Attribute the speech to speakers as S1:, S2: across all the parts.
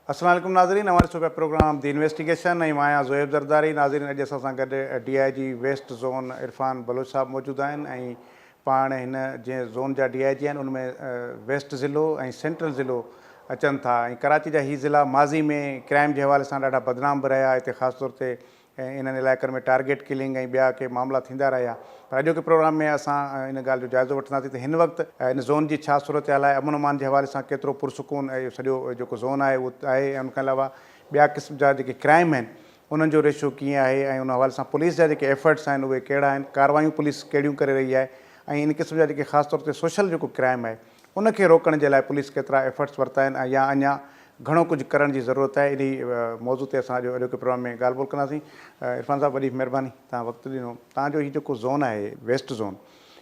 S1: السلام عليڪم ناظرين اوهان ڏسو پيا پروگرام دي انويسٽيگيشن ۽ مان آهيان زوهيب زرداري ناظرين اڄ اسان سان گڏ D I G west zone Irfan Baloch صاحب موجود آهن ۽ پاڻ هن جنهن زون جا ڊي آء جي آهن ان ۾ ويسٽ ضلعو ۽ سينٽرل ضلعو اچن ٿا ۽ ڪراچي جا هي ضلعا ماضي ۾ ڪرائيم جي حوالي سان ڏاڍا بدنام به رهيا هتي خاص طور تي ۽ انهن علائقن ۾ ٽارگيٽ ڪلنگ ۽ ٻيا ڪي معاملا ٿيندا رهيا پر اڄوڪي پروگرام ۾ اسان ان ڳالهه جو جائزو وٺنداسين ته هن وقت ان زون جي ڇا صورتحال آهي امن امان جي حوالي سان ڪيترو پرسڪون اهو سڄو جيڪو زون آهي اهو آهي ۽ ان کان علاوه ٻيا قسم جا جيڪي ڪرائم آهن انهن جو ريشو ڪيئن آهي ۽ ان حوالي سان پوليس جا جيڪي ايفرٽس آهن اهي ڪهڙا آهن ڪاروايون پوليس ڪهڙيون ڪري رهي آهي ۽ ان قسم جا جيڪي خاص طور تي سوشل جيڪو ڪرائم آهي ان کي روڪڻ جي لاء پوليس ڪيترا ايفرٽس ورتا آهن ۽ يا اڃا گهڻو ڪجهه ڪرڻ جي ضرورت آهي انهي موضوع تي اسان اڄ اڄوڪي پروگرام ۾ ڳالهه ٻولهه ڪنداسين عرفان صاحب وڏي مهرباني توهان وقت ڏنو توهان جو هي جيڪو زون آهي ويسٽ زون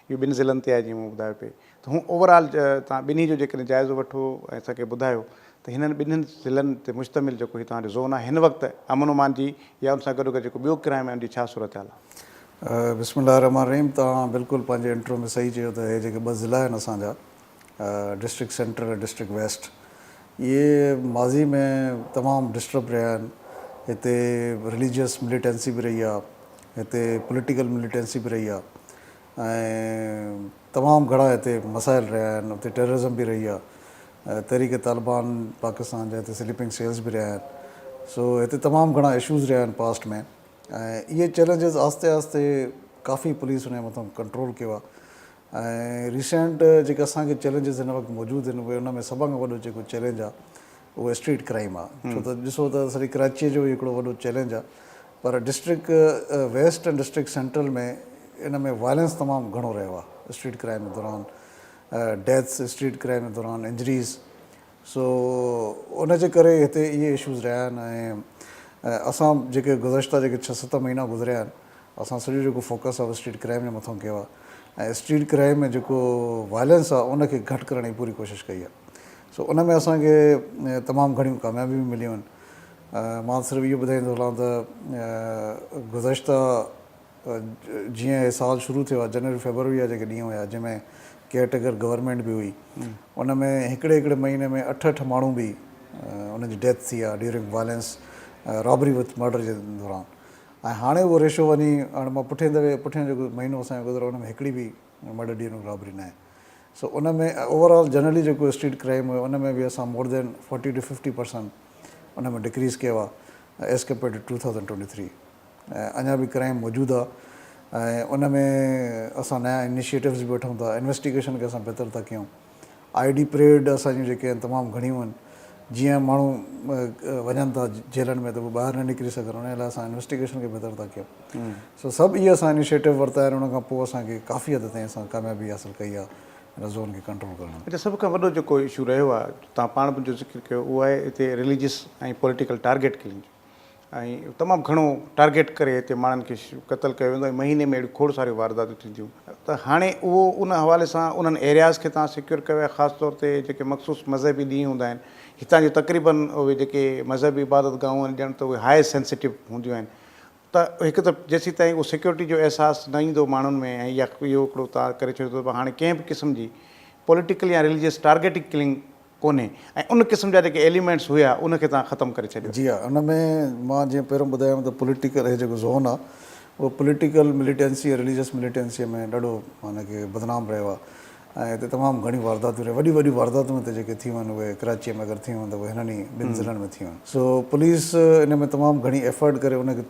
S1: اهو ٻن ضلعن تي آهي جيئن مون ٻڌايو پئي ته هون اوور آل توهان ٻنهي جو جيڪڏهن جائزو وٺو ۽ اسان کي ٻڌايو ته هنن ٻنهين ضلعن تي مشتمل جيڪو هي توهان جو زون آهي هن وقت امن امان جي يا ان سان گڏوگڏ جيڪو ٻيو ڪرائيم آهي ان جي ڇا صورتحال آهي؟ بسم الله الرحمٰن الرحيم
S2: توهان بلڪل پنهنجي انٽرو ۾ صحيح چيو ته هي جيڪي ٻه ضلعا آهن اسان جا ڊسٽرڪٽ سينٽر ۽ ڊسٽرڪٽ ويسٽ اهي ماضي ۾ تمام ڊسٽرب رهيا آهن هتي رليجيس مليٽنسي به رهي آهي هتي پوليٽيڪل مليٽنسي به رهي آهي ۽ تمام گھڻا اتي مسائل رھيا آھن اتي ٽيررزم به رھي آ تحريڪ طالبان پاڪستان جا اتي سليپنگ سيلز به رھيا آھن سو ھتي تمام گھڻا اشوز رھيا آھن پاسٽ ۾ ۽ اھي چئلينجز آھستي آھستي ڪافي پوليس انھي مٿان ڪنٽرول ڪيو آ ۽ ريسينٽ جيڪي اسان کي چئلينجز ھن وقت موجود آھن اھي ان ۾ سڀان کان وڏو جيڪو چئلينج آ اهو اسٽريٽ ڪرائيم آ ڇو ته ڏسو ته سڄي ڪراچيء جو هڪڙو وڏو چئلينج آ پر ڊسٽرڪٽ ويسٽ ۽ ڊسٽرڪٽ سينٽرل ۾ ان ۾ وائلنس تمام گهڻو رهيو آ اسٽريٽ ڪرائيم دوران ڊيٿس اسٽريٽ ڪرائيم دوران انجريز سو ان جي ڪري هتي اهي اشوز رهيا آهن ۽ اسان جيڪي گذشته جيڪي ڇهه ست مهينا گذريا آهن اسان سڄو جيڪو فوڪس آ اسٽريٽ ڪرائيم جي مٿان ڪيو آ ۽ اسٽريٽ ڪرائيم ۾ جيڪو وائلنس آ ان کي گهٽ ڪرڻ جي پوري ڪوشش ڪئي آ سو ان ۾ اسان کي تمام گهڻيون ڪاميابيون به مليون آهن. مان صرف اهو ٻڌائيندو هلان ته گذشته جيئن هي سال شروع ٿيو آهي جنوري فيبروري جا جيڪي ڏينهن هيا جنهن ۾ ڪيئر ٽيڪر گورنمينٽ به هئي ان ۾ هڪڙي هڪڙي مهيني ۾ اٺ اٺ ماڻهو به انهن جي ڊيٿ ٿي آهي during violence robbery with murder جي دوران ۽ هاڻي اهو ريشو وڃي هاڻي مان پٺين دفعي پٺين جيڪو مهينو اسان جو گذريو ان ۾ هڪڙي به مرڊر ڊيورنگ رابري ناهي. سو ان ۾ اوور آل جنرلي جيڪو اسٽريٽ ڪرائيم هيو ان ۾ به اسان more than forty to fifty percent ان ۾ ڊڪريز ڪيو آهي as compare to two thousand twenty three ۽ اڃا به ڪرائيم موجود آهي ۽ ان ۾ اسان نيا انيشيئيٽوز به وٺون ٿا انويسٽيگيشن کي اسان بهتر ٿا ڪيون آئي ڊي پريڊ اسان جون جيڪي آهن تمام گهڻيون آهن جيئن ماڻهو وڃن ٿا جيلن ۾ ته ٻاهر نه نڪري سگهن ان لاء اسان انويسٽيگيشن کي بهتر ٿا ڪيون سو سڀ اهي اسان انيشيٽو ورتا آهن ان کان پوء اسان کي ڪافي حد تائين اسان ڪاميابي حاصل ڪئي آهي ان زون کي ڪنٽرول ڪرڻ ۾. اچا سڀ کان وڏو جيڪو اشو
S1: رهيو آهي توهان پاڻ به جو ذڪر ڪيو اهو آهي هتي رليجس ۽ پوليٽيڪل ٽارگيٽ ڪلنگ جو ۽ تمام گهڻو ٽارگيٽ ڪري هتي ماڻهن کي قتل ڪيو ويندو ۽ مهيني ۾ اهڙيون کوڙ ساريون وارداتون ٿينديون ته هاڻي اهو ان حوالي سان انهن ايرياز کي توهان سيڪيور ڪيو آهي خاص طور تي جيڪي مخصوص مذهبي ڏينهن هوندا آهن هتان جون تقريبن اهي جيڪي مذهبي عبادت گاهون آهن ڄڻ ته اهي هاء سينسيٽو هونديون آهن ته هڪ ته جيسيتائين اهو سيڪيورٽي جو احساس نه ايندو ماڻهن ۾ ۽ يا اهو هڪڙو تار ڪري ڇڏيو ته هاڻي ڪنهن به قسم جي پوليٽيڪل يا رليجيس ٽارگيٽنگ ڪلنگ ڪونهي ۽ ان قسم جا جيڪي ايليمينٽس هيا ان کي توهان ختم ڪري ڇڏيو. جي ها ان ۾
S2: مان جيئن پهريون ٻڌايم ته پوليٽيڪل هي جيڪو زون آهي اهو پوليٽيڪل مليٽينسي ۽ رليجيس مليٽينسي ۾ ڏاڍو معنيٰ ڪي بدنام رهيو آهي ۽ هتي تمام گهڻيون وارداتون رهيون وڏيون وڏيون وارداتون هتي جيڪي ٿيون آهن اهي ڪراچيء ۾ اگر ٿيون آهن ته اهي هنن ئي ٻن ضلعن ۾ ٿيون آهن سو پوليس ان ۾ تمام گهڻي ايفرٽ ڪري ان کي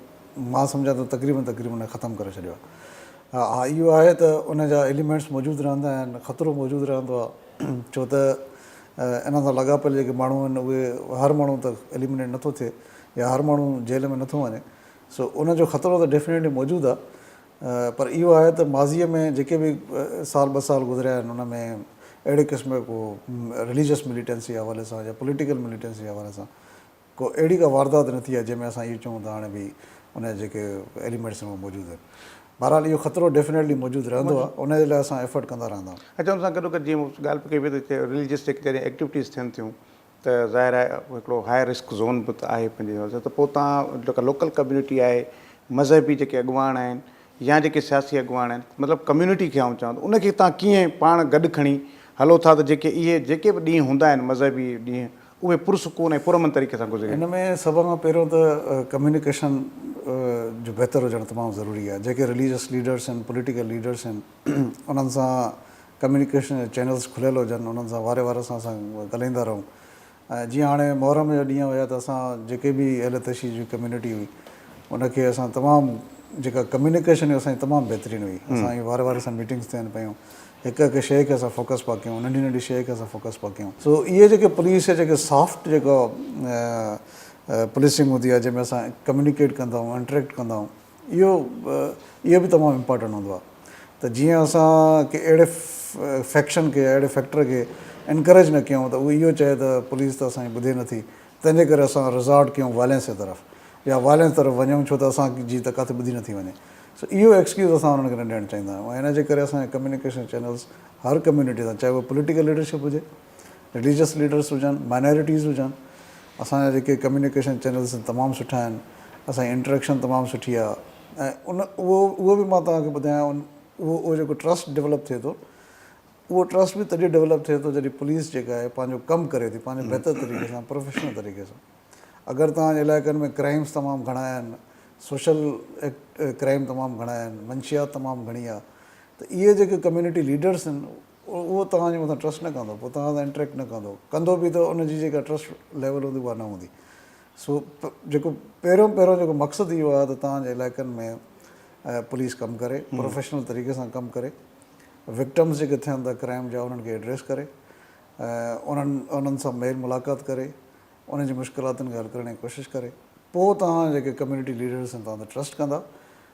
S2: مان سمجهان ٿو تقريبن تقريبن ان کي ختم ڪري ڇڏيو آهي ها اهو آهي ته ان جا ايليمينٽس موجود رهندا آهن خطرو موجود رهندو آهي ڇو ته ان سان لاڳاپيل جيڪي ماڻهو آهن اهي هر ماڻهو ته ايليمينيٽ نٿو ٿئي يا هر ماڻهو جيل ۾ نٿو وڃي سو ان جو خطرو ته ڊيفنيٽلي موجود آهي پر اهو آهي ته ماضيء ۾ جيڪي به سال ٻه سال گذريا آهن ان ۾ اهڙي قسم جو ڪو رليجس مليٽنسي حوالي سان يا پوليٽيڪل مليٽنسي حوالي سان ڪو اهڙي ڪا واردات نه ٿي آهي جنهن ۾ اسان اهو چئون ته هاڻي ڀئي ان جا جيڪي ايليمينٽس آهن اهي موجود آهن بهرحال اهو خطرو ڊيفنيٽلي موجود رهندو آهي ان جي لاء اسان ايفرٽ ڪندا رهندا آهيون. اچا ان سان گڏوگڏ جيئن
S1: ڳالهه پئي ڪئي وئي ته رليجس جيڪي جڏهن ايڪٽيوٽيز ٿين ٿيون ته ظاهر آهي هڪڙو هاء رسڪ زون به ته آهي پنهنجي حساب سان ته پوء تهان جيڪا لوڪل ڪميونٽي آهي مذهبي جيڪي اڳواڻ آهن يا جيڪي سياسي اڳواڻ آهن مطلب ڪميونٽي کي آئون چوان ٿو ان کي تهان ڪيئن پاڻ گڏ کڻي هلو ٿا ته جيڪي اهي جيڪي به ڏينهن هوندا آهن مذهبي ڏينهن اهي پرسڪون ۽ پرامن طريقي سان گذري. ان ۾ سڀ کان پهريون
S2: ته ڪميونيڪيشن جو بهتر هجڻ تمام ضروري آهي جيڪي رليجس ليڊرس آهن پوليٽيڪل ليڊرس آهن انهن سان ڪميونيڪيشن جا چينلز کليل هجن انهن سان واري وار سان اسان ڳالهائيندا رهون ۽ جيئن هاڻي محرم جا ڏينهن هيا ته اسان جيڪي به اهل تشيع جي ڪميونٽي هئي ان کي اسان تمام جيڪا ڪميونيڪيشن هئي اسان جي تمام بهترين هئي اسان جي واري واري سان ميٽنگز ٿين پيون هڪ هڪ شيء کي اسان فوڪس پيا ڪيون ننڍي ننڍي شيء کي اسان فوڪس پيا ڪيون سو اهي جيڪي پوليس يا جيڪي سافٽ جيڪا پوليسنگ هوندي آهي جنهن ۾ اسان ڪميونيڪيٽ ڪندا آهيون انٽريڪٽ ڪندا آهيون اهو اهو به تمام امپارٽنٽ هوندو آهي ته جيئن اسان ڪي اهڙي فيڪشن کي اهڙي فيڪٽر کي انڪريج نه ڪيون ته اهو اهو چئي ته پوليس ته اسان جي ٻڌي نه ٿي تنهن جي ڪري اسان ريزارٽ ڪيون وائلينس جي طرف يا وائلينس طرف وڃون ڇو ته اسان جي ته ڪاٿي ٻڌي نه ٿي وڃي سو اهو ايڪسڪيوز اسان انهن کي نه ڏيڻ چاهيندا آهيون ۽ ان جي ڪري اسان جي ڪميونيڪيشن چينلز هر ڪميونٽي سان چاهي اهو پوليٽيڪل ليڊرشپ هجي رليجس ليڊرس هجن مائنارٽيز هجن اسان جا جيڪي ڪميونيڪيشن چينلس آهن تمام سٺا آهن اسان جي انٽريڪشن تمام سٺي آهي ۽ ان اهو اهو به مان توهان کي ٻڌايان ان اهو اهو جيڪو ٽرسٽ ڊولپ ٿئي ٿو اهو ٽرسٽ به تڏهن ڊولپ ٿئي ٿو جڏهن پوليس جيڪا آهي پنهنجو ڪم ڪري ٿي پنهنجو بهتر طريقي سان پروفيشنل طريقي سان اگر توهان جي علائقن ۾ ڪرائمس تمام گهڻا آهن سوشل ڪرائم تمام گهڻا آهن منشيات تمام گهڻي آهي ته اهي جيڪي ڪميونٽي ليڊرس آهن اهو توهان جي مٿان ٽرسٽ نه ڪندو پوء توهان سان انٽريڪٽ نه ڪندو ڪندو به ته ان جي جيڪا ٽرسٽ ليول هوندي اها نه هوندي سو جيڪو پهريون پهريون جيڪو مقصد اهو آهي ته توهان جي علائقن ۾ پوليس ڪم ڪري پروفيشنل طريقي سان ڪم ڪري وڪٽمس جيڪي ٿين ٿا ڪرائم جا انهن کي ايڊريس ڪري انهن انهن سان ميل ملاقات ڪري ان جي مشڪلاتن کي حل ڪرڻ جي ڪوشش ڪري پوء توهان جيڪي ڪميونٽي ليڊرس آهن توهان تي ٽرسٽ ڪندا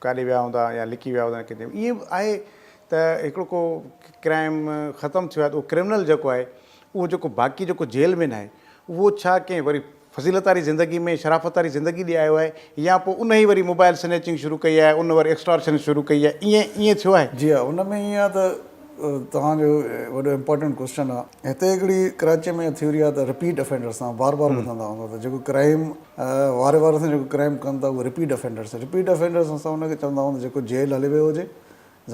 S1: ڪاڏي ويا هوندا يا لڪي ويا هوندا ڪٿي ائين به آهي ته هڪڙو ڪو ڪرائم ختم ٿيو آهي ته اهو ڪرمنل جيڪو آهي اهو جيڪو باقي جيڪو جيل مين آهي اهو ڇا ڪنهن وري فضيلت واري زندگي ۾ شرافت واري زندگي ڏي آيو آهي يا پوء ان ئي وري موبائل سنيچنگ شروع ڪئي آهي ان وري ايڪسٽارشن شروع ڪئي آهي ائين ائين ٿيو آهي؟ جي ها ان ۾ ائين آهي ته
S2: توهان جو وڏو امپارٽنٽ ڪوسچن آهي هتي هڪڙي ڪراچي ۾ ٿيوري آهي ته رپيٽ افينڊر سان بار بار ٻڌندا هوندا ته جيڪو ڪرائم واري واري سان جيڪو ڪرائيم ڪن ٿا اهي رپيٽ افينڊرس رپيٽ افينڊرس اسان ان کي چوندا آهيون جيڪو جيل هلي ويو هجي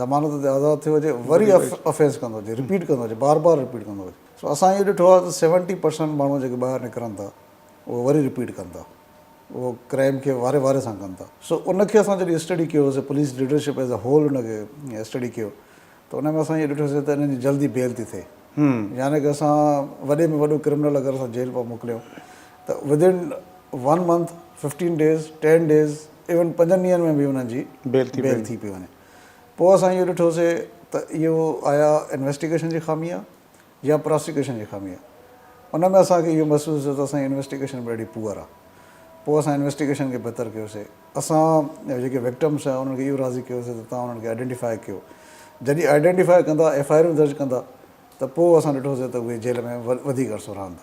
S2: ضمانت تي آزاد ٿيو هجي وري افينس ڪندو هجي رپيٽ ڪندو هجي بار بار رپيٽ ڪندو هجي سو اسان اهو ڏٺو آهي ته سيونٽي پرسنٽ ماڻهو جيڪي ٻاهر نڪرن ٿا اهو وري رپيٽ ڪن ٿا اهو ڪرائيم کي واري واري سان ڪن ٿا سو ان کي اسان جڏهن اسٽڊي ڪيوسي police leadership as a whole ان کي اسٽڊي ڪيو ته ان ۾ اسان اهو ڏٺوسين ته انهن جي جلدي بيل ٿي ٿئي يعني ڪه اسان وڏي ۾ وڏو ڪرمنل اگر اسان جيل پيا موڪليون ته within one month fifteen days ten days even پنجن ڏينهن ۾ به انهن جي بيل ٿي بيل ٿي پئي وڃي پوء اسان اهو ڏٺوسين ته اهو آيا انويسٽيگيشن جي خامي آ يا پراسيڪيوشن جي خامي آهي ان ۾ اسان کي اهو محسوس ٿيو ته اسان جي انويسٽيگيشن ڏاڍي پوئر آهي پوء اسان انويسٽيگيشن کي بهتر ڪيوسي اسان جيڪي وڪٽمس آهن انهن کي اهو راضي ڪيوسي ته توهان انهن کي آئيڊينٽيفائي ڪيو جڏهن آئيڊينٽيفائي ڪندا ايف آء آرون درج ڪندا ته پوء اسان ڏٺوسي ته اهي جيل ۾ وڌيڪ عرصو رهندا.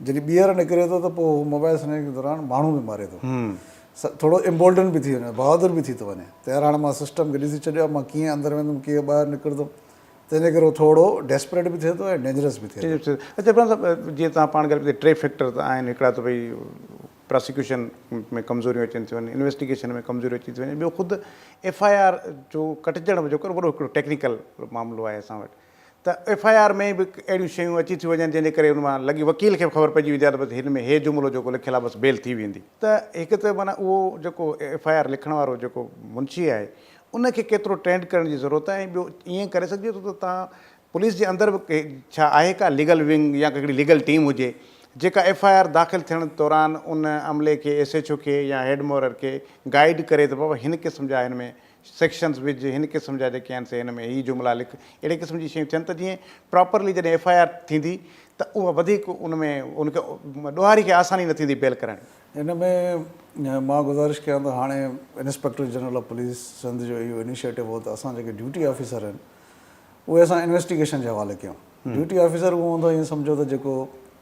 S2: جڏهن ٻيهر نڪري ٿو ته پوء هو موبائل سنهڙي جي دوران ماڻهو به ماري ٿو. ٿورو امبولڊن به ٿي وڃي ٿو، بهادر به ٿي ٿو وڃي ته يار هاڻي مان سسٽم کي ڏسي ڇڏيو آهي، مان ڪيئن اندر ويندم ڪيئن ٻاهر نڪرندم، تنهن جي ڪري هو ٿورو ڊيسپريٽ به ٿئي ٿو ۽ ڊينجرس به ٿئي ٿو. اچا عرفان صاحب
S1: جيئن تهان پاڻ ڳالهيو ته ٽي فيڪٽر ته آهن هڪڙا ته ڀئي پراسيڪيوشن ۾ ڪمزوريون اچن ٿيون، انويسٽيگيشن ۾ ڪمزوريون اچي ٿيون وڃن، ٻيو خود ايف آء آر جو ڪٽجڻ به جيڪو وڏو هڪڙو ٽيڪنيڪل معاملو آهي اسان وٽ، ته ايف آء آر ۾ به اهڙيون شيون اچي ٿيون وڃن جنهن جي ڪري ان مان لڳي وڪيل کي به خبر پئجي ويندي آهي ته بس هن ۾ هي جملو جيڪو لکيل آهي بس بيل ٿي ويندي ته هڪ ته معنيٰ اهو جيڪو ايف آء آر لکڻ وارو جيڪو منشي آهي ان کي ڪيترو ٽرينڊ ڪرڻ جي ضرورت آهي ۽ ٻيو ائين ڪري سگهجي ٿو ته تان پوليس جي اندر به ڪي ڇا آهي ڪا ليگل ونگ يا هڪڙي ليگل ٽيم هجي جيڪا ايف آء آر داخل ٿيڻ دوران ان عملي کي ايس ايڇ او کي يا هيڊ مورر کي گائيڊ ڪري ته بابا هن قسم جا هن ۾ سيڪشنز وجهه هن قسم جا جيڪي آهن سي هن ۾ هي جملا لک اهڙي قسم جي شيون ٿين ته جيئن پراپرلي جڏهن ايف آء آر ٿيندي ته اها وڌيڪ ان ۾ ان کي ڏوهاري کي آساني نه ٿيندي بيل ڪرڻ. ان ۾
S2: مان گذارش ڪيان ته هاڻي inspector general of police Sindh جو اهو انيشيٽو هو ته اسان جيڪي ڊيوٽي آفيسر آهن اهي اسان انويسٽيگيشن جي حوالي ڪيون ڊيوٽي آفيسر اهو هوندو ائين سمجهو ته جيڪو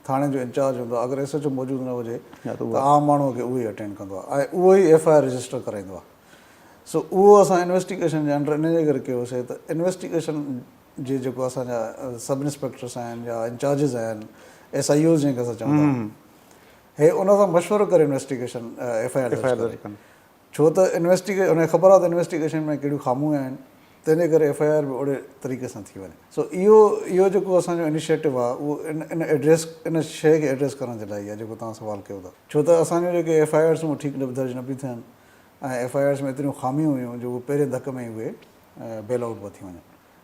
S2: ٿاڻي جو انچارج هوندو اگر ايس ايچ او موجود نه هجي ته عام ماڻهو کي اهو ئي اٽينڊ ڪندو آهي ۽ اهو ئي ايف آء آر رجسٽر ڪرائيندو آهي. سو اهو اسان انويسٽيگيشن جي انڊر ان جي ڪري ڪيو سي ته انويسٽيگيشن جي جيڪو اسان جا سب انسپيڪٽرس آهن يا انچارجز آهن ايس آئي اوز جنهن کي اسان چئون ٿا هي ان سان مشورو ڪري انويسٽيگيشن ايف آئي آر درج ڪري ڇو ته انويسٽيگيشن ان کي خبر آهي ته انويسٽيگيشن ۾ ڪهڙيون خاميون آهن تنهن جي ڪري ايف آئي آر به اوڙي طريقي سان ٿي وڃي سو اهو اهو جيڪو اسان جو انيشيٽو آهي اهو ان ان ايڊريس ان شيء کي ايڊريس ڪرڻ جي لاء ئي آهي جيڪو توهان سوال ڪيو ٿا ڇو ته اسان جون جيڪي ايف آئي آرس آهن اهي ٺيڪ درج نه پيون ٿين ۽ ايف آء آرز ۾ ايتريون خاميون هيون جو اهي پهرين ڌڪ ۾ ئي اهي بيل آئوٽ به ٿي وڃن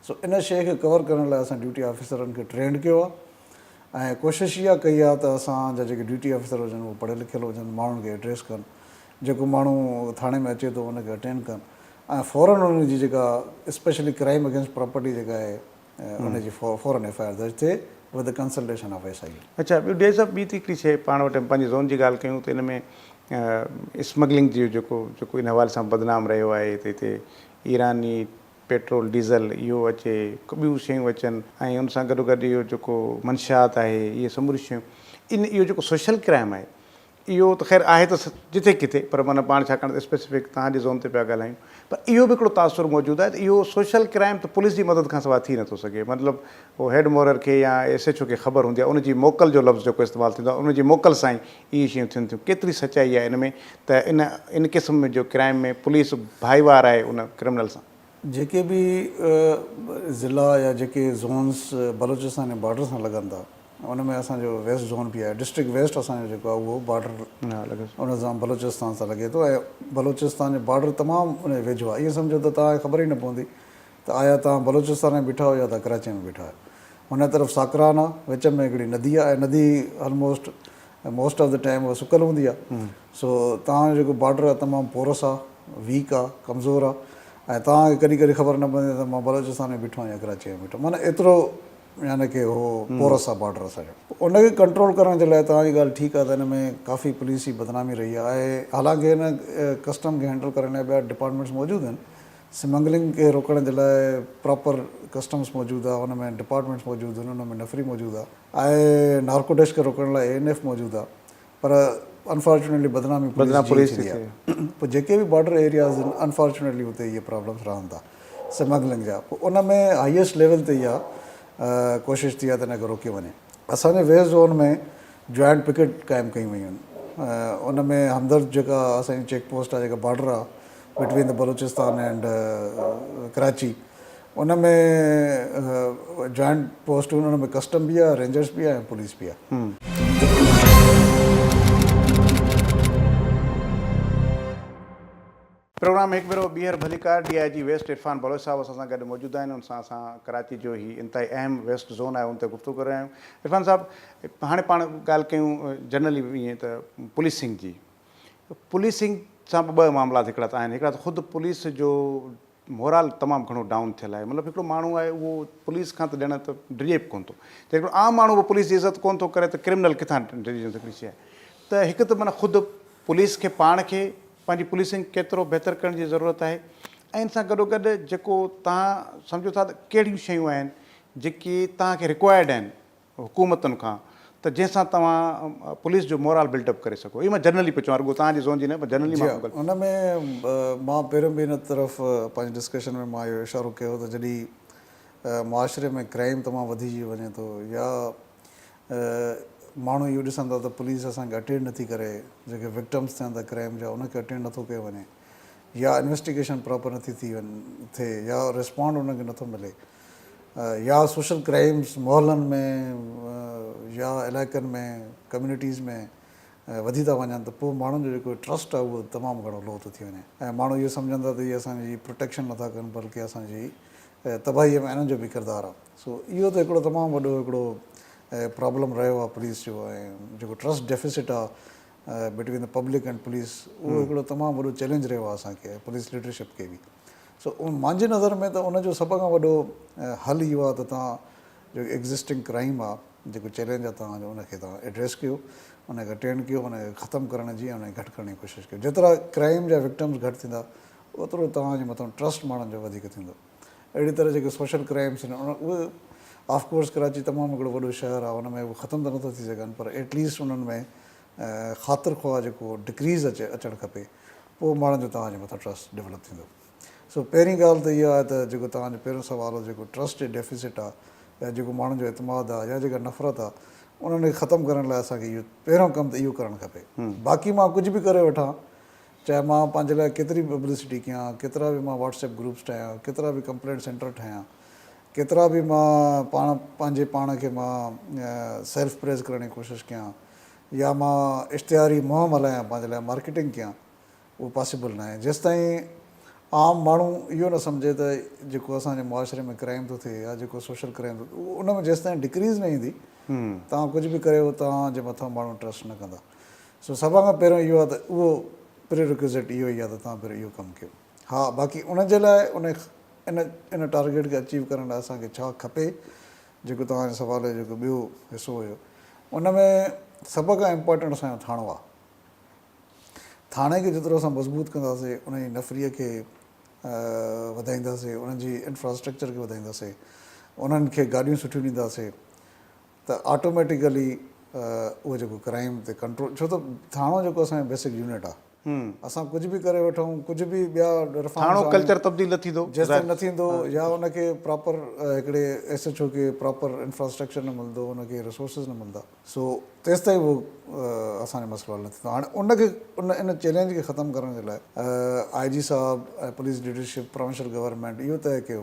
S2: سو ان شيء کي ڪور ڪرڻ لاء اسان ڊيوٽي آفيسرن کي ٽرينڊ ڪيو آهي ۽ ڪوشش اها ڪئي آهي ته اسان جا جيڪي ڊيوٽي آفيسر هجن اهي پڙهيل لکيل هجن ماڻهن کي ايڊريس ڪن جيڪو ماڻهو ٿاڻي ۾ اچي ٿو ان کي اٽينڊ ڪن ۽ فورن ان جي جيڪا اسپيشلي ڪرائيم اگينسٽ پراپرٽي جيڪا آهي ان جي فورن ايف آء آر درج ٿئي with the consultation of S I U. اڇا ٻيو ڊي صاحب ٻي
S1: ته هڪڙي شي پاڻ وٽ پنهنجي زون جي ڳالهه ڪيون ته ان ۾ اسمگلنگ جي جيڪو جيڪو ان حوالي سان بدنام رهيو آهي ته هتي ايراني پيٽرول ڊيزل اهو اچي ٻيون شيون اچن ۽ ان سان گڏوگڏ اهو جيڪو منشيات آهي اهي سموريون شيون ان اهو جيڪو سوشل ڪرائم آهي اهو ته خير آهي ته جٿي ڪٿي پر معنيٰ پاڻ ڇاڪاڻ ته اسپيسفڪ توهان جي زون تي پيا ڳالهايون پر اهو به هڪڙو تاثر موجود آهي ته اهو سوشل ڪرائيم ته پوليس جي مدد کان سواء ٿي نٿو سگهي مطلب هو هيڊ مورر کي يا ايس ايڇ او کي خبر هوندي آهي ان جي موڪل جو لفظ جيڪو استعمال ٿيندو آهي ان جي موڪل سان ئي اهي شيون ٿين ٿيون ڪيتري سچائي آهي ان ۾ ته ان ان قسم جو ڪرائيم ۾ پوليس ڀائيوار آهي ان ڪرمنل سان. جيڪي به
S2: ضلعا يا جيڪي زونس بلوچستان جي بارڊر سان لڳن ٿا ان ۾ اسان جو ويسٽ زون به آهي، ڊسٽرڪٽ ويسٽ اسان جو جيڪو آهي اهو بارڊر ان سان بلوچستان سان لڳي ٿو ۽ بلوچستان جو بارڊر تمام ان جي ويجهو آهي، ائين سمجهو ته توهان کي خبر ئي نه پوندي ته آيا توهان بلوچستان ۾ بيٺا آهيو يا توهان ڪراچيء ۾ بيٺا آهيو. هن طرف ساڪران آهي، وچ ۾ هڪڙي ندي آهي ۽ ندي almost most of the time اها سڪل هوندي آهي، سو توهان جو جيڪو بارڊر آهي تمام پورس آهي، ويڪ آهي، ڪمزور آهي ۽ توهان کي ڪڏهن ڪڏهن خبر نه پوندي ته مان بلوچستان ۾ بيٺو آهيان يا ڪراچيء ۾ بيٺو آهيان معنيٰ ايترو يعني ڪي اهو پورس آ بارڊر اسان جو ان کي ڪنٽرول ڪرڻ جي لاء توهان جي ڳالهه ٺيڪ آ ته ان ۾ ڪافي پوليس جي بدنامي رهي آ ۽ حالانڪه هن ڪسٽم کي هينڊل ڪرڻ لاء ٻيا ڊپارٽمينٽس موجود آهن سمنگلنگ کي روڪڻ جي لاء پراپر ڪسٽمس موجود آ ان ۾ ڊپارٽمينٽس موجود آهن ان ۾ نفري موجود آ ۽ نارڪوٽيش کي روڪڻ لاء اي اين ايف موجود آ پر انفارچونيٽلي بدنامي پوليس جي ڇڏي آهي پوء جيڪي به بارڊر ايرياز آهن انفارچونيٽلي اتي اهي پرابلمس رهن ٿا سمگلنگ جا پوء ان ۾ هائيسٽ ليول تي اها ڪوشش ٿي آهي ته ان کي روڪيو وڃي اسان جي ويسٽ زون ۾ جوائنٽ پڪيٽ قائم ڪيون ويون آهن ان ۾ همدرد جيڪا اسان جي چيڪ پوسٽ آهي جيڪا بارڊر آهي بٽوين ته بلوچستان اينڊ ڪراچي ان ۾ جوائنٽ پوسٽ هن ۾ ڪسٽم به آهي رينجرز به آهي پوليس به آهي.
S1: پروگرام ۾ هڪ ڀيرو ٻيهر ڀليڪار D I G west Irfan Baloch صاحب اسان سان گڏ موجود آهن ان سان اسان ڪراچي جو هي انتهائي اهم ويسٽ زون آهي ان تي گفتگو ڪري رهيا آهيون عرفان صاحب هاڻي پاڻ ڳالهه ڪيون جنرلي ائين ته پوليسنگ جي پوليسنگ سان به ٻه معاملات هڪڙا ته آهن هڪڙا ته خود پوليس جو مورال تمام گهڻو ڊائون ٿيل آهي مطلب هڪڙو ماڻهو آهي اهو پوليس کان ته ڄڻ ته ڊڄي به ڪونه ٿو جي هڪڙو عام ماڻهو به پوليس جي عزت ڪونه ٿو ڪري ته ڪرمنل ڪٿان ڊڄي ويندو هڪڙي شيء ته هڪ ته معنيٰ خود پوليس کي پاڻ کي پنهنجي پوليسنگ ڪيترو بهتر ڪرڻ جي ضرورت آهي ۽ ان سان گڏو گڏ جيڪو تهان سمجهو ٿا ته ڪهڙيون شيون آهن جيڪي تهان کي رڪوائرڊ آهن حڪومتن کان ته جنهن سان توهان پوليس جو مورال بلڊ اپ ڪري سگهو اهو مان جنرلي پيو چوان رڳو توهان جي زون جي نه پر جنرلي مان ڳالهه ان ۾
S2: مان پهريون به ان طرف پنهنجي ڊسڪشن ۾ مان اهو اشارو ڪيو ته جڏهن معاشري ۾ ڪرائيم تمام وڌجي وڃي ٿو يا ماڻهو اهو ڏسن ٿا ته پوليس اسان کي اٽينڊ نٿي ڪري جيڪي وڪٽمز ٿين ٿا ڪرائيم جا ان کي اٽينڊ نٿو ڪيو وڃي يا انويسٽيگيشن پراپر نٿي ٿي وڃي ٿي يا ريسپانڊ ان کي نٿو ملي يا سوشل ڪرائيمز محلن ۾ يا علائقن ۾ ڪميونٽيز ۾ وڌي ٿا وڃن ته پوء ماڻهن جو جيڪو ٽرسٽ آهي اهو تمام گهڻو لو ٿو ٿي وڃي ۽ ماڻهو اهو سمجهن ٿا ته هي اسان جي پروٽيڪشن نٿا ڪن بلڪه اسان جي تباهي ۾ انهن جو به ڪردار آهي سو اهو ته هڪڙو تمام وڏو هڪڙو پرابلم رهيو آهي پوليس جو ۽ جيڪو ٽرسٽ ڊيفيسٽ آهي between the public and police اهو هڪڙو تمام وڏو چئلينج رهيو آهي اسان کي پوليس ليڊرشپ کي به سو مانجي نظر ۾ ته ان جو سڀ کان وڏو حل اهو آهي ته توهان جو ايگزسٽنگ ڪرائيم آهي جيڪو چئلينج آهي توهان جو ان کي توهان ايڊريس ڪيو ان کي اٽينڊ ڪيو ان کي ختم ڪرڻ جي ۽ گهٽ ڪرڻ جي ڪوشش ڪيو جيترا ڪرائيم جا وڪٽمز گهٽ ٿيندا اوترو توهان جي مٿان ٽرسٽ ماڻهن جو وڌيڪ ٿيندو اهڙي طرح جيڪي سوشل ڪرائيمز آهن ان اهي آف ڪورس ڪراچي تمام هڪڙو وڏو شهر آهي ان ۾ اهي ختم ته نٿو ٿي سگهن پر ايٽ ليسٽ انهن ۾ خاطر خواهه جيڪو ڊڪريز اچي اچڻ کپي پوء ماڻهن جو توهان جي مٿان ٽرسٽ ڊولپ ٿيندو سو پهرين ڳالهه ته اها آهي ته جيڪو توهان جو پهريون سوال هو جيڪو ٽرسٽ جي ڊيفيسٽ آهي يا جيڪو ماڻهن جو اعتماد آهي يا جيڪا نفرت آهي انهن کي ختم ڪرڻ لاء اسان کي اهو پهريون ڪم ته اهو ڪرڻ کپي باقي مان ڪجهه به ڪري وٺان چاهي مان پنهنجي لاء ڪيتري به پبلسٽي ڪيان ڪيترا به مان واٽس ايپ گروپس ٺاهيان ڪيترا به ڪمپلينٽ سينٽر ٺاهيان ڪيترا به مان پاڻ پنهنجي پاڻ کي مان سيلف پريز ڪرڻ جي ڪوشش ڪيان يا مان اشتهاري مهم هلايان پنهنجي لاء مارڪيٽنگ ڪيان اهو پاسيبل ناهي جيستائين عام ماڻهو اهو نه سمجهي ته جيڪو اسان جي معاشري ۾ ڪرائيم ٿو ٿئي يا جيڪو سوشل ڪرائيم ٿو ٿئي ان ۾ جيستائين ڊڪريز نه ايندي توهان ڪجهه به ڪريو توهان جي مٿان ماڻهو ٽرسٽ نه ڪندا سو سڀ کان پهريون اهو آهي ته اهو پري رڪوزيٽ اهو ئي آهي ته توهان پهريون اهو ڪم ڪيو ها باقي ان جي لاء ان ان ان ٽارگيٽ کي اچيو ڪرڻ لاء اسان کي ڇا کپي جيڪو توهان جي سوال جو جيڪو ٻيو حصو هيو ان ۾ سڀ کان امپارٽنٽ اسان جو ٿاڻو آ ٿاڻي کي جيترو اسان مضبوط ڪنداسي ان جي نفري کي وڌائينداسي انهن جي انفراسٽرڪچر کي وڌائينداسي انهن کي گاڏيون سٺيون ڏينداسي ته آٽوميٽيڪلي اهو جيڪو ڪرائيم تي ڪنٽرول ڇو ته ٿاڻو جيڪو اسان جو بيسڪ يونٽ آ. اسان ڪجهه به ڪري وٺون ڪجهه به ٻيا رفارمز آڻيون ڪلچر تبديل
S1: نه ٿيندو جيستائين نه ٿيندو
S2: يا ان کي پراپر هڪڙي ايس ايڇ او کي پراپر انفراسٽرڪچر نه ملندو ان کي رسورسز نه ملندا سو تيستائين اهو اسان جو مسئلو حل نه ٿيندو هاڻي ان کي ان چئلينج کي ختم ڪرڻ جي لاء آء جي صاحب ۽ پوليس ليڊرشپ پراونشل گورنمينٽ اهو طئي ڪيو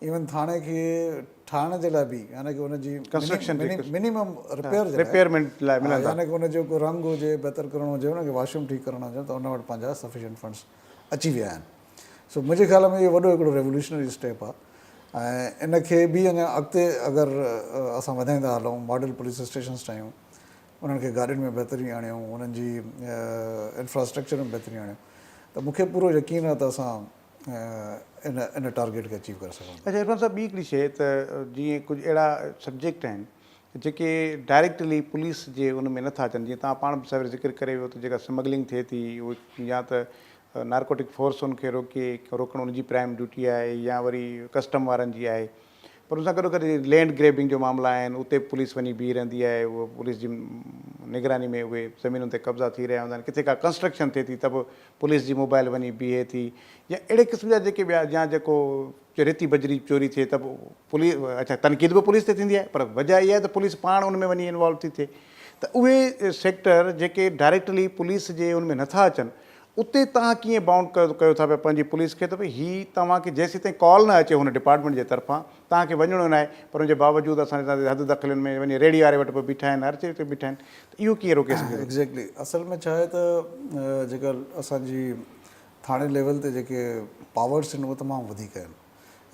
S2: ايون ٿاڻي کي ٺاهڻ جي لاء به يعني ڪي ان جي منيمم رپيئر جي لاء يعني ڪي ان جو ڪو رنگ هجي بهتر ڪرڻو هجي ان کي واشروم ٺيڪ ڪرڻا هجن ته ان وٽ پنهنجا سفيشنٽ فنڊس اچي ويا آهن سو منهنجي خيال ۾ اهو وڏو هڪڙو ريولوشنري اسٽيپ آهي ۽ ان کي به اڃا اڳتي اگر اسان وڌائيندا هلون ماڊل پوليس اسٽيشنس ٺاهيون انهن کي گاڏين ۾ بهتري آڻيون انهن جي انفراسٽرڪچر ۾ بهتري آڻيون ته مون کي پورو يقين آهي ته اسان ان ٽارگيٽ کي اچيو ڪري سگهون ٿا. اچا عرفان صاحب ٻي هڪڙي شيء
S1: ته جيئن ڪجهه اهڙا سبجيڪٽ آهن جيڪي ڊائريڪٽلي پوليس جي ان ۾ نه ٿا اچن جيئن توهان پاڻ به سوير ذڪر ڪري ويو ته جيڪا سمگلنگ ٿئي ٿي يا ته نارڪوٽڪ فورس ان کي روڪي روڪڻ ان جي پرائم ڊيوٽي آهي يا وري ڪسٽم وارن جي آهي پر ان سان گڏو گڏ لينڊ گريبنگ جو معاملا آهن اتي به پوليس وڃي بيهي رهندي آهي اهو پوليس جي نگراني ۾ اهي زمينن تي قبضا ٿي رهيا هوندا آهن ڪٿي ڪا ڪنسٽرڪشن ٿئي ٿي ته به پوليس جي موبائل وڃي بيهي ٿي يا اهڙي قسم جا جيڪي ٻيا يا جيڪو ريتي بجري چوري ٿئي ته به پوليس اڇا تنقيد به پوليس تي ٿيندي آهي پر وجهه اها آهي ته پوليس پاڻ ان ۾ وڃي انوالو ٿي ٿئي ته اهي سيڪٽر جيڪي ڊائريڪٽلي پوليس جي ان ۾ نٿا اچن اتي توهان ڪيئن بائونڊ ڪيو ٿا پيا پنهنجي پوليس کي ته ڀئي هي توهان کي جيسيتائين ڪال نه اچي هن ڊپارٽمينٽ جي طرفان توهان کي وڃڻو ناهي پر ان جي باوجود اسان جي تان حد دخلين ۾ وڃي ريڙهي واري وٽ به بيٺا آهن هر جڳهه تي بيٺا آهن ته اهو ڪيئن روڪي سگهجي ٿو. ايگزيڪٽلي اصل ۾ ڇا
S2: آهي ته جيڪا اسان جي ٿاڻي ليول تي جيڪي پاورس آهن اهي تمام وڌيڪ آهن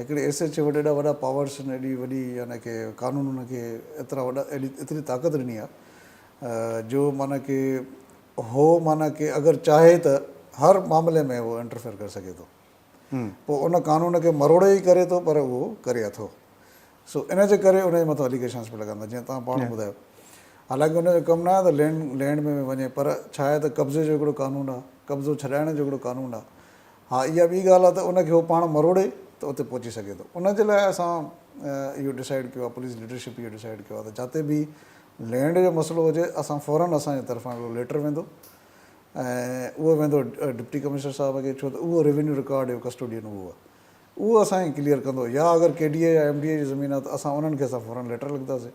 S2: هڪڙي ايس ايڇ او وٽ ايڏا وڏا پاورس آهن ايڏي وڏي يعني ڪي قانون ان کي ايترا وڏا ايتري طاقت ڏني آهي جو معنيٰ ڪي هو معنيٰ ڪي اگر چاهي ته هر معاملي ۾ هو انٽرفيئر ڪري سگهي ٿو پوء ان قانون کي مروڙي ئي ڪري ٿو پر اهو ڪري اٿو سو ان جي ڪري ان جي مٿان اليگيشنس پڻ لڳندا جيئن توهان پاڻ ٻڌايو حالانڪه ان جو ڪم نه آهي ته لينڊ لينڊ ۾ وڃي پر ڇا آهي ته قبضي جو هڪڙو قانون آهي قبضو ڇڏائڻ جو هڪڙو قانون آهي ها اها ٻي ڳالهه آهي ته ان کي هو پاڻ مروڙي ته اتي پهچي سگهي ٿو ان جي لاء اسان اهو ڊسائڊ ڪيو آهي پوليس ليڊرشپ اهو ڊسائڊ ڪيو آهي ته جاتي به لينڊ جو مسئلو هجي اسان فورن اسان جي طرفان هڪڙو ليٽر ويندو ۽ اهو ويندو ڊپٽي ڪمشنر صاحب کي ڇو ته اهو ريونيو رڪارڊ جو ڪسٽوڊين اهو آهي اهو اسان کي ڪليئر ڪندو يا اگر ڪي ڊي اي يا ايم ڊي اي جي زمين آهي ته اسان انهن کي اسان فورن ليٽر لکنداسين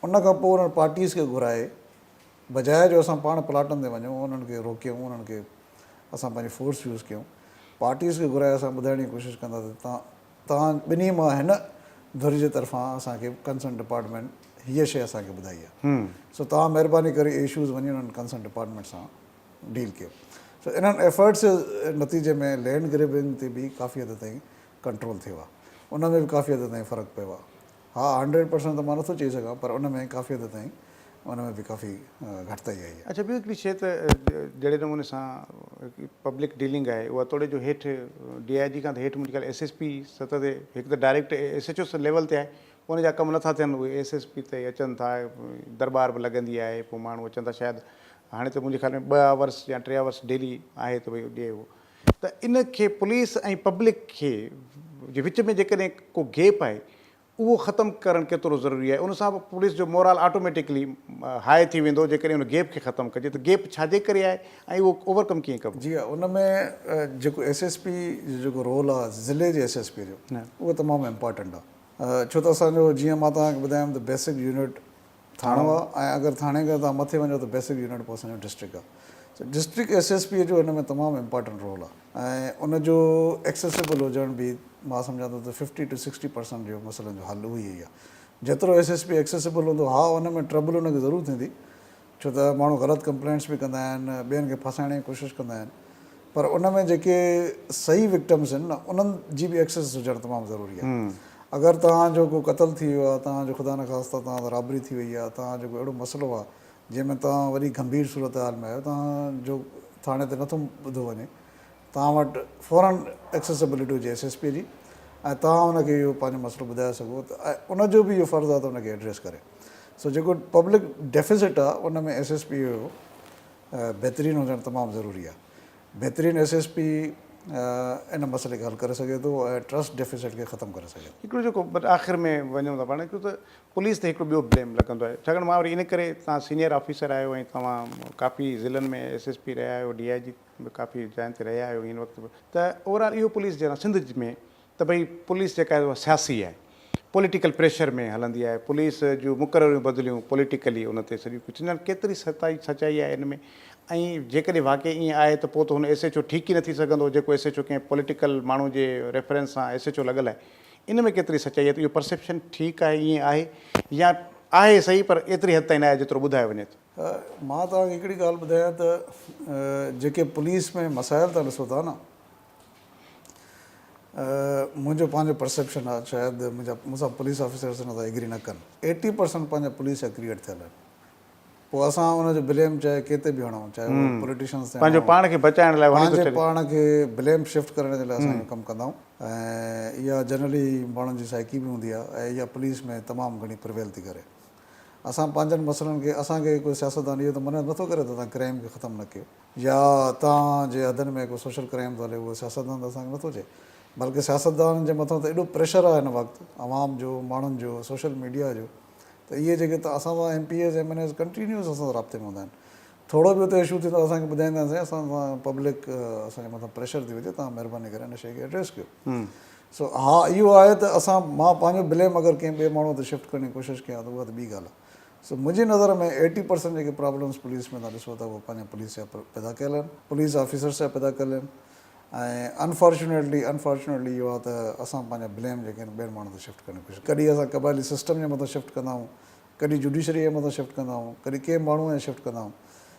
S2: ان کان پوء انهن پارٽيز کي گهرائي بجاء جو اسان پاڻ پلاٽن تي وڃون انهن کي روڪيون انهن کي اسان پنهنجي فورس يوز ڪيون پارٽيز کي گهرائي اسان ٻڌائڻ جي ڪوشش ڪنداسين ته توهان ٻنهي مان هن ڌر جي طرفان اسان کي ڪنسرن ڊپارٽمينٽ هيء شيء اسان کي ٻڌائي آهي سو توهان مهرباني ڪري اهي اشوز وڃي انهن ڪنسرن ڊپارٽمينٽ سان ڊيل ڪيو سو انهن ايفرٽس جي نتيجي ۾ لينڊ گريبنگ تي به ڪافي حد تائين ڪنٽرول ٿيو آهي ان ۾ به ڪافي حد تائين فرق پيو آهي. ها هنڊريڊ پرسنٽ ته مان نٿو چئي سگهان پر ان ۾ ڪافي حد تائين ان ۾ به ڪافي گهٽتائي آئي آهي. اڇا ٻيو هڪڙي شئي ته
S1: جهڙي نموني سان پبلڪ ڊيلنگ آهي اها توڙي جو هيٺ ڊي آئي جي کان ته هيٺ منهنجي خيال ايس ايس پي سطح تي هڪ ته direct S H O level تي آهي پوء ان جا ڪم نٿا ٿين اهي ايس ايس پي تائين اچن ٿا درٻار به لڳندي آهي پوء ماڻهو اچن ٿا شايد هاڻي ته منهنجي خيال ۾ ٻه آورس يا ٽي آورس ڊيلي آهي ته ڀئي ڏي اهو ته ان کي پوليس ۽ پبلڪ کي جي وچ ۾ جيڪڏهن ڪو گيپ آهي اهو ختم ڪرڻ ڪيترو ضروري آهي ان سان به پوليس جو مورال آٽوميٽڪلي هاء ٿي ويندو جيڪڏهن ان گيپ کي ختم ڪجي ته گيپ ڇا جي ڪري آهي ۽ اهو اوور ڪم ڪيئن ڪبو. جي ها ان ۾
S2: جيڪو ايس ايس پي جو جيڪو رول آهي ضلعي جي ايس ايس پي جو اهو تمام امپارٽنٽ آهي ڇو ته اسان جو جيئن مان توهان کي ٻڌايم ته بيسڪ يونٽ ٿاڻو آ ۽ اگر ٿاڻي کان توهان مٿي وڃو ته بيسڪ يونٽ پوء اسان جو ڊسٽرڪٽ آ سو ڊسٽرڪٽ ايس ايس پي جو ان ۾ تمام امپارٽنٽ رول آ ۽ ان جو ايڪسيسبل هجڻ به مان سمجهان ٿو ته ففٽي ٽو سڪسٽي پرسنٽ جو مسئلن جو حل اهو ئي آ جيترو ايس ايس پي ايڪسيسبل هوندو ها ان ۾ ٽربل ان کي ضرور ٿيندي ڇو ته ماڻهو غلط ڪمپلينٽس به ڪندا آهن ٻين کي ڦاسائڻ جي ڪوشش ڪندا آهن پر ان ۾ جيڪي صحيح وڪٽمز آهن نه انهن جي به ايڪسس هجڻ تمام ضروري آهي اگر توهان جو ڪو قتل ٿي ويو آهي توهان جو خدا نخواسته توهان سان رابري ٿي وئي آهي توهان جو ڪو اهڙو مسئلو آهي جنهن ۾ توهان وڏي گنڀير صورتحال ۾ آهيو توهان جو ٿاڻي تي نٿو ٻڌو وڃي توهان وٽ فورن ايڪسيسبلٽي هجي ايس ايس پي جي ۽ توهان ان کي اهو پنهنجو مسئلو ٻڌائي سگهو ته ان جو به اهو فرض آهي ته ان کي ايڊريس ڪري سو جيڪو پبلڪ ڊيفيسٽ آهي ان ۾ ايس ايس پي جو بهترين هجڻ تمام ضروري آهي. بهترين ايس ايس پي ان مسئلي کي حل ڪري سگهي ٿو ۽ ٽرسٽ ڊيفيسٽ کي ختم ڪري سگهي ٿو. هڪڙو جيڪو بس آخر
S1: ۾ وڃون ٿا پاڻ ته پوليس تي هڪڙو ٻيو بليم لڳندو آهي ڇاڪاڻ مان وري ان ڪري تهان سينئر آفيسر آهيو ۽ توهان ڪافي ضلعن ۾ ايس ايس پي رهيا آهيو ڊي آء جي به ڪافي جاين تي رهيا آهيو هن وقت به ته اوور آل اهو پوليس جي سنڌ ۾ ته ڀئي پوليس جيڪا آهي اها سياسي آهي پوليٽيڪل پريشر ۾ هلندي آهي پوليس جون مقرريون بدليون پوليٽيڪلي ان تي سڄو ڪجهه ٿيندو ڪيتري سچائي سچائي آهي ان ۾ ۽ جيڪڏهن واقعي ايئن آهي ته پوء ته هن ايس ايڇ او ٺيڪ ئي نه ٿي سگهندو جيڪو ايس ايڇ او ڪنهن پوليٽيڪل ماڻهو جي ريفرنس سان ايس ايڇ او لڳل آهي ان ۾ ڪيتري سچائي آهي ته اهو پرسيپشن ٺيڪ آهي ايئن آهي يا آهي صحيح پر ايتري حد تائين نه آهي جيترو ٻڌايو وڃي ٿو. مان توهان کي هڪڙي
S2: ڳالهه ٻڌايان ته جيڪي پوليس ۾ مسائل تان ڏسو ٿا نه منهنجو پنهنجو پرسيپشن آ شايد منهنجا مون سان پوليس آفيسرس ان سان ايگري نه ڪن ايٽي پرسنٽ پنهنجا پوليس جا ڪريئٽ ٿيل آهن پوء اسان ان جو بليم چاهي ڪنهن تي به هڻون چاهي هو پوليٽيشنس تي پنهنجو پاڻ کي بچائڻ لاء
S1: پنهنجي پاڻ کي
S2: بليم شفٽ ڪرڻ جي لاء اسان اهو ڪم ڪندا آهيون ۽ اها جنرلي ماڻهن جي سائيڪي به هوندي آهي ۽ اها پوليس ۾ تمام گهڻي پرويل ٿي ڪري اسان پنهنجن مسئلن کي اسان کي ڪو سياستدان اهو ته منع نٿو ڪري ته تان ڪرائيم کي ختم نه ڪيو يا اتان جي حدن ۾ ڪو سوشل ڪرائيم ٿو هلي اهو سياستدان ته اسان کي نٿو چئي بلڪه سياستدانن جي مٿان ته ايڏو پريشر آهي هن وقت عوام جو ماڻهن جو سوشل ميڊيا جو ته اهي جيڪي ته اسان سان M P As M N As continuous اسان سان رابطي ۾ هوندا آهن ٿورو به اتي اشو ٿيندو اسان کي ٻڌائيندا آهن سائين اسان سان پبلڪ اسان جي مٿان پريشر ٿي وجهي تان مهرباني ڪري هن شئي کي ايڊريس ڪيو سو ها اهو آهي ته اسان مان پنهنجو بليم اگر ڪنهن ٻئي ماڻهو تي شفٽ ڪرڻ جي ڪوشش ڪيان ته اها ته ٻي ڳالهه آهي سو منهنجي نظر ۾ ايٽي پرسنٽ جيڪي پرابلمز پوليس ۾ تهان ڏسو ٿا اهي پنهنجي پوليس جا پيدا ڪيل آهن پوليس آفيسرز جا پيدا ڪيل آهن ۽ انفارچونيٽلي انفارچونيٽلي اهو آهي ته اسان پنهنجا بليم جيڪي آهن ٻين ماڻهن تي شفٽ ڪرڻ جي ڪوشش ڪڏهن اسان قبائلي سسٽم جي مٿان شفٽ ڪندا آهيون ڪڏهن جوڊيشري جي مٿان شفٽ ڪندا آهيون ڪڏهن ڪنهن ماڻهو جي مٿان شفٽ ڪندا آهيون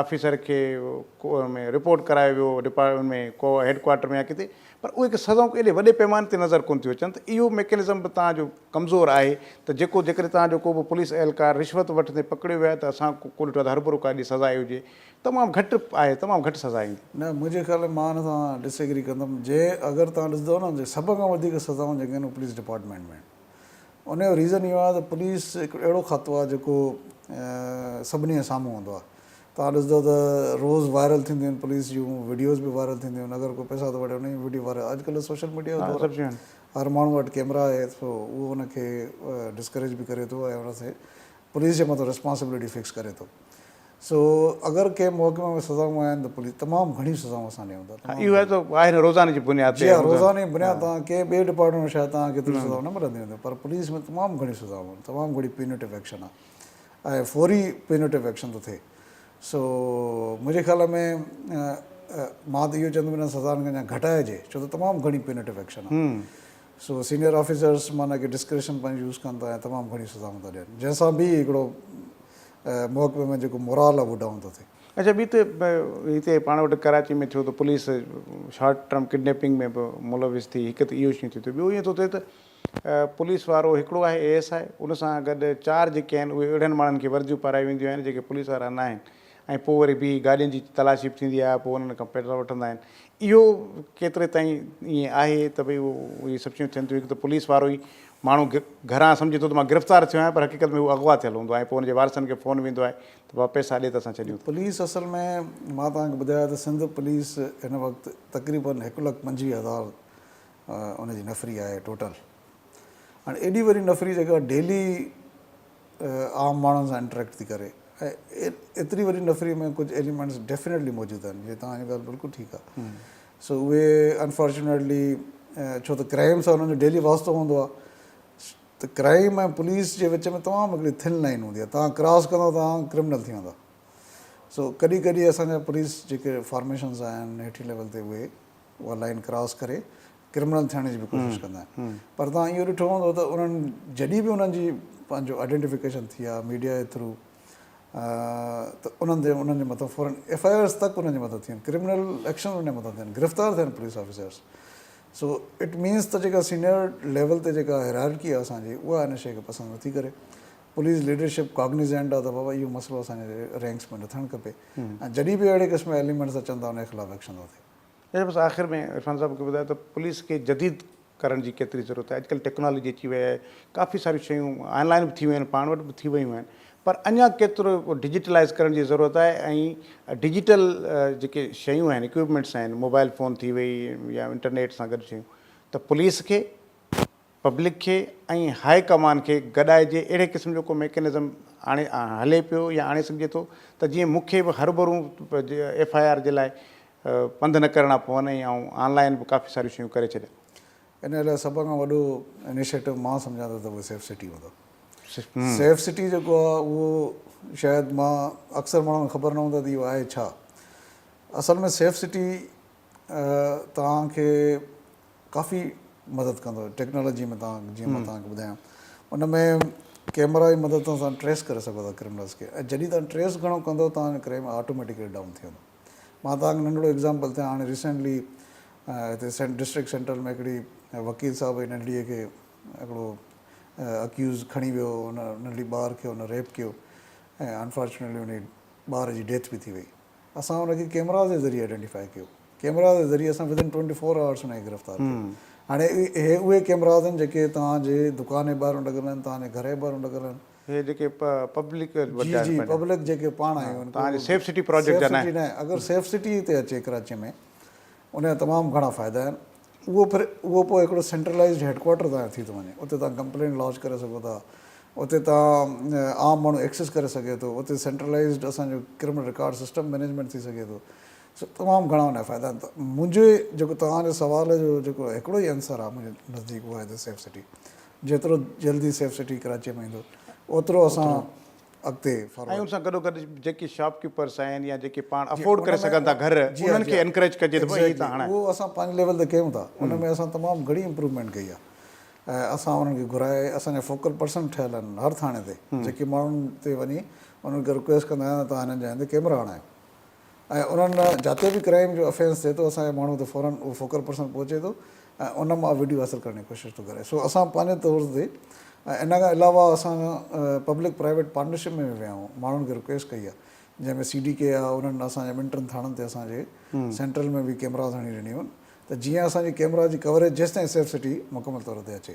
S1: آفيسر کي ۾ رپورٽ ڪرايو ويو ڊپارٽمينٽ ۾ ڪو هيڊ ڪوارٽر ۾ يا ڪٿي پر اهي سزائون ڪو ايڏي وڏي پيماني تي نظر ڪونه ٿيون اچن ته اهو ميڪنزم به تان جو ڪمزور آهي ته جيڪو جيڪڏهن تان جو ڪو به پوليس اهلڪار رشوت وٺندي پڪڙيو ويو آهي ته اسان ڪو ڏٺو آهي ته هرڀرو ڪا ايڏي سزا آئي هجي تمام گهٽ آهي تمام گهٽ سزا ايندي. نه منهنجي خيال ۾ مان
S2: ان سان ڊس ايگري ڪندم جنهن اگر تان ڏسندو نه سڀ کان وڌيڪ سزائون جيڪي آهن اهي پوليس ڊپارٽمينٽ ۾ آهن. ان جو ريزن اهو آهي ته پوليس هڪ اهڙو کاتو آهي جيڪو سڀني جي سامهون هوندو آهي توهان ڏسندو ته روز وائرل ٿينديون آهن پوليس جون وڊيوز به وائرل ٿينديون آهن اگر ڪو پئسا ٿو وٺي ان جي وڊيو وائرل اڄ ڪلهه سوشل ميڊيا جو دور آهي هر ماڻهو وٽ ڪيمرا آهي سو اهو ان کي ڊسڪريج به ڪري ٿو ۽ ان سي پوليس جي مٿان ريسپانسبلٽي فڪس ڪري ٿو. سو اگر ڪنهن محڪمي ۾ سزائون آهن ته پوليس تمام گهڻيون سزائون اسان ڏيون ٿا. ها اهو ته آهي نه روزاني
S1: جي بنياد تي. جي ها روزاني بنياد تان
S2: ها. ڪنهن ٻئي ڊپارٽمينٽ ۾ شايد توهان کي ايتريون سزائون نه ملنديون هونديون پر پوليس ۾ تمام گهڻيون سزائون آهن تمام گهڻي پيونيٽو ايڪشن آهي ۽ فوري پيونيٽو ايڪشن ٿو ٿئي سو منهنجي خيال ۾ مان ته اهو چوندم انهن سزائن کي اڃا گهٽائجي ڇو ته تمام گهڻي پيونيٽو ايڪشن آهي سو سينيئر آفيسرس معنيٰ ڪي ڊسڪريشن پنهنجي يوز ڪن ٿا ۽ تمام گهڻيون سزائون ٿا ڏين جنهن سان به هڪڙو محڪمي ۾ جيڪو مورال آهي اهو ڊائون ٿو ٿئي. اڇا ٻي ته
S1: هتي پاڻ وٽ ڪراچي ۾ ٿيو ته پوليس شارٽ ٽرم ڪڊنيپنگ ۾ به ملوث ٿي هڪ ته اهو شيون ٿيون ته ٻيو ائين ٿو ٿئي ته پوليس وارو هڪڙو آهي اي ايس آء ان سان گڏ چار جيڪي آهن اهي اهڙن ماڻهن کي ورديون پارايون وينديون آهن جيڪي پوليس وارا ناهن ۽ پوء وري بي گاڏين جي تلاشي به ٿيندي آهي پوء انهن کان پيٽرول وٺندا آهن اهو ڪيتري تائين ائين آهي ته ڀئي اهو اهي سڀ شيون ٿين ٿيون هڪ ته پوليس وارو ئي ماڻهو گهران سمجهي ٿو ته مان گرفتار ٿيو آهيان پر حقيقت ۾ هو اغوا ٿيل هوندو آهي ۽ پوء ان جي وارثن کي فون ويندو آهي ته بابا پئسا ڏي ته اسان ڇڏيون ٿا. پوليس اصل ۾
S2: مان توهان کي ٻڌايو ته سنڌ پوليس هن وقت تقريبن هڪ لک پنجويهه هزار ان جي نفري آهي ٽوٽل هاڻي ايڏي وڏي نفري جيڪا ڊيلي عام ماڻهن سان انٽريڪٽ ٿي ڪري ۽ ايتري وڏي نفري ۾ ڪجهه ايليمينٽس ڊيفينيٽلي موجود آهن جي توهان جي ڳالهه بلڪل ٺيڪ آهي سو اهي انفارچونيٽلي ڇو ته ڪرائم سان انهن جو ڊيلي واسطو هوندو آهي ته ڪرائم ۽ پوليس جي وچ ۾ تمام هڪڙي ٿن لائن هوندي آهي تان ڪراس ڪندو تان ڪرمنل ٿي ويندا سو ڪڏهن ڪڏهن اسان جا پوليس جيڪي فارميشنز آهن هيٺين ليول تي اهي اها لائين ڪراس ڪري ڪرمنل ٿيڻ جي به ڪوشش ڪندا آهن پر توهان اهو ڏٺو هوندو ته انهن جڏهن به انهن جي پنهنجو آئيڊينٽيفڪيشن ٿي آهي ميڊيا جي ٿرو ته انهن تي انهن جي مٿان فورن ايف آء آرس تڪ انهن جي مٿان ٿين ڪرمنل ايڪشن انهن جي مٿان ٿين گرفتار ٿين police officers so it means ته جيڪا سينئر ليول تي جيڪا هيرارڪي آهي اسان جي اها ان شيء کي پسند نٿي ڪري پوليس ليڊرشپ ڪاگنيزنٽ آهي ته بابا اهو مسئلو اسان جي رينڪس ۾ نه ٿيڻ کپي ۽ جڏهن به اهڙي قسم جا ايليمنٽس اچن ٿا ان جي خلاف ايڪشن ٿو ٿئي اهي بس آخر ۾ عرفان
S1: صاحب کي ٻڌايو ته پوليس کي جديد ڪرڻ جي ڪيتري ضرورت آهي اڄ ڪلهه ٽيڪنالاجي اچي وئي آهي ڪافي ساريون شيون آن لائن به ٿي ويون آهن پاڻ وٽ به ٿي ويون آهن پر اڃا ڪيترو ڊجيٽلائز ڪرڻ جي ضرورت آهي ۽ ڊجيٽل جيڪي شيون آهن اڪوپمينٽس آهن موبائل فون ٿي وئي يا انٽرنيٽ سان گڏ شيون ته پوليس کي پبلڪ کي ۽ هاء ڪمان کي گڏائجي اهڙي قسم جو ڪو ميڪنزم آڻي هلي پيو يا آڻي سگهجي ٿو ته جيئن مون کي به هرڀرون ايف آء آر جي لاء پنڌ نه ڪرڻا پون ۽ آئون آن لائن به ڪافي ساريون شيون ڪري ڇڏيان. ان لاء سڀ
S2: کان وڏو انيشيٽو مان سمجهان ٿو ته اهو سيف سٽي هوندو. سيف سٽي جيڪو آهي اهو شايد مان اڪثر ماڻهن کي خبر نه هوندو ته اهو آهي ڇا. اصل ۾ سيف سٽي توهان کي ڪافي مدد ڪندو ٽيڪنالاجي ۾ توهان جيئن مان توهان کي ٻڌايان ان ۾ ڪيمرا جي مدد سان توهان ٽريس ڪري سگهو ٿا ڪرمنلس کي ۽ جڏهن توهان ٽريس گهڻو ڪندو توهان جو ڪرائيم آٽوميٽڪلي ڊائون ٿي ويندو مان توهان کي ننڍڙو ايگزامپل ٿي هاڻي ريسينٽلي هتي ڊسٽرڪٽ سينٽرل ۾ هڪڙي وڪيل صاحب جي ننڍڙي کي هڪڙو اڪيوز کڻي ويو هن ننڍڙي ٻار کي هن ريپ ڪيو ۽ انفارچونيٽلي ان ٻار جي ڊيٿ به ٿي وئي اسان ان کي ڪيمراز جي ذريعي آئيڊينٽيفائي ڪيو ڪيمراز جي ذريعي اسان ودن ٽوئنٽي فور آورس ان کي گرفتار ڪيو هاڻي هي اهي ڪيمراز آهن جيڪي توهان جي دڪان جي ٻاهران لڳل آهن توهان جي گهر جي ٻاهران لڳل آهن هي جيڪي
S1: پبلڪ جي جي پبلڪ
S2: جيڪي پاڻ آهيون توهان جي سيف سٽي پراجيڪٽ
S1: جا نه آهن اگر سيف
S2: سٽي تي اچي ڪراچي ۾ ان جا تمام گهڻا فائدا آهن. اهو پھر اهو پوء هڪڙو سينٽرلائيزڊ هيڊ ڪوارٽر ظاهر ٿي ٿو وڃي. اتي توهان ڪمپلينٽ لانچ ڪري سگهو ٿا. اتي توهان عام ماڻهو ايڪسيس ڪري سگهي ٿو. اتي سينٽرلائيزڊ اسان جو ڪرمنل رڪارڊ سسٽم مئنيجمينٽ ٿي سگهي ٿو. سو تمام گهڻا ان جا فائدا آهن. منهنجي جيڪو توهان جي سوال جو جيڪو هڪڙو ئي آنسر آهي منهنجي نزديڪ اهو آهي ته سيف سٽي. جيترو جلدي سيف سٽي ڪراچيء ۾ ايندو اوترو اسان اڳتي ڦر ۽ ان سان گڏو گڏ
S1: جيڪي شاپ ڪيپرس آهن يا جيڪي پاڻ افورڊ ڪري سگهن ٿا گهر انهن کي انڪريج ڪجي ته ڀاء هي تان هڻائي اهو اسان پنهنجي
S2: ليول تي ڪيون ٿا ان ۾ اسان تمام گهڻي امپروومينٽ ڪئي آهي ۽ اسان انهن کي گهرائي اسان جا فوڪل پرسن ٺهيل آهن هر ٿاڻي تي جيڪي ماڻهن تي وڃي انهن کي رڪويسٽ ڪندا آهيون ته تهان هنن جاين تي ڪيمرا هڻايو ۽ انهن جاتي به ڪرائيم جو افينس ٿئي ٿو اسان جو ماڻهو ته فورن اهو فوڪل پرسن پهچي ٿو ۽ ان مان وڊيو حاصل ڪرڻ جي ڪوشش ٿو ڪري سو اسان پنهنجي طور تي ۽ ان کان علاوه اسان پبلڪ پرائيويٽ پارٽنرشپ ۾ به ويا آهيون ماڻهن کي رڪويسٽ ڪئي آهي جنهن ۾ سي ڊي ڪي آهي انهن اسان جي ٻن ٽن ٿاڻن تي اسان جي سينٽرل ۾ به ڪيمراز هڻي ڏنيون ته جيئن اسان جي ڪيمرا جي ڪوريج جيستائين سيف سٽي مڪمل طور تي اچي